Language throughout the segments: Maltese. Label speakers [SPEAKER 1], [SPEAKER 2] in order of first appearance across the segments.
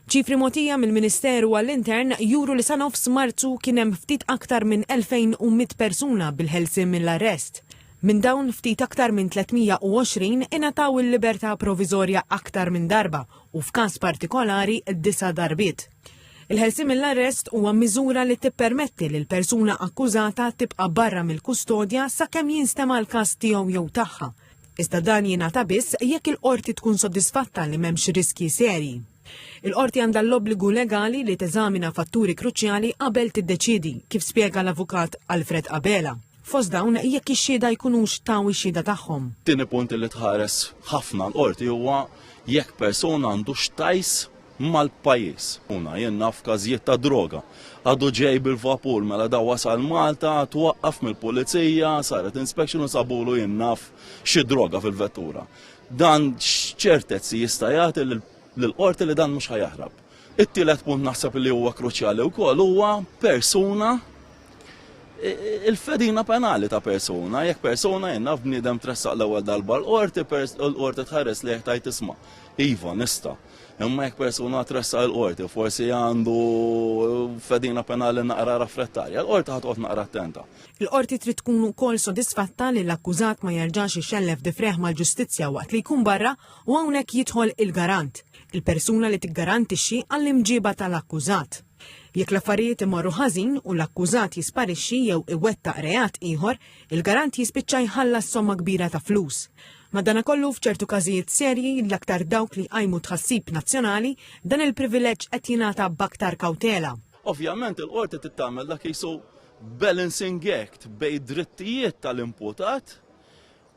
[SPEAKER 1] Ċifri mogħtija mill-Ministeru għall-Intern juru li sa nofs Marzu kien hemm ftit aktar minn 2,100 persuna bil-ħelsien mill-arrest. Minn dawn ftit aktar minn 320 ingħataw il-libertà proviżorja aktar minn darba u f'każ partikolari disa' darbiet. Il-ħelsien mill-arrest huwa miżura li tippermetti lil persuna akkużata tibqa' barra mill-kustodja sakemm jinstema' l-każ tiegħu jew tagħha iżda dan jingħata biss jekk il-qorti tkun sodisfatta li m'hemmx riskji serji. Il-qorti għandha l-obbligu legali li teżamina fatturi kruċjali qabel tiddeċiedi, kif spjega l-avukat Alfred Abela. Fost dawn jekk ix-xhieda jkunux taw ix-xhieda tagħhom. Tieni punt li
[SPEAKER 2] tħares ħafna l-qorti huwa jekk persuna għandux tajs mal-pajjiż. Una, jien naf każijiet ta' droga. Għadu ġej bil-vapur mela da wasal Malta, twaqqaf mill-pulizija, saret inspection u sabulu jien naf xi droga fil-vettura. Dan x'ċertezzi jista' jagħti lill-qorti li dan mhux ħajaħrab. It-tielet punt naħseb li huwa kruċjali wkoll huwa persuna il-fedina penali ta' persuna, jekk persuna jenna b'niedem tressaq l-ewwel darba l-qorti, l-qorti tħares li jħtajt isma. Iva, nista. Imma jekk persuna tressa l-qorti, forsi għandu fedina penali naqra raffrettarja, l-qorti ħatqot naqra attenta. Il-qorti trid tkun
[SPEAKER 1] ukoll sodisfatta li l-akkużat ma jerġax ixellef difreħ mal-ġustizzja waqt li jkun barra u hawnhekk jidħol il-garant, il-persuna li tiggarantixxi għall-imġiba tal-akkużat. Jekk l-affarijiet imorru ħażin u l-akkużat jisparixxi jew iwettaq reat ieħor, il-garant jispiċċa jħallas somma kbira ta' flus. Madanakollu, f'ċertu każijiet serji, l-aktar dawk li jqajmu tħassib nazzjonali, dan il-privileġġ qed jingħata b'aktar kawtela. Ovvjament il-Qorti
[SPEAKER 2] trid tagħmel dak li jsu balancing act bejn id-drittijiet tal-imputat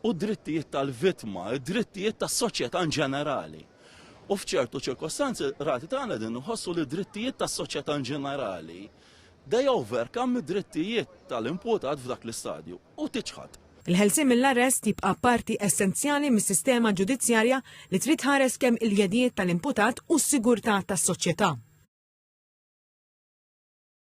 [SPEAKER 2] u d-drittijiet tal-vittma, id-drittijiet tas-soċjetà in ġenerali. U f'ċertu ċirkostanzi, rati tagħna din nħossu li d-drittijiet tas-soċjetà in ġenerali they overcome id-drittijiet tal-imputat f'dak l-istadju. u tiċħad. Il-ħelsien mill-arrest
[SPEAKER 1] jibqa' parti essenzjali mis-sistema ġudizzjarja li trid tħares kemm il-jedijiet tal-imputat u s-sigurtà tas-soċjetà.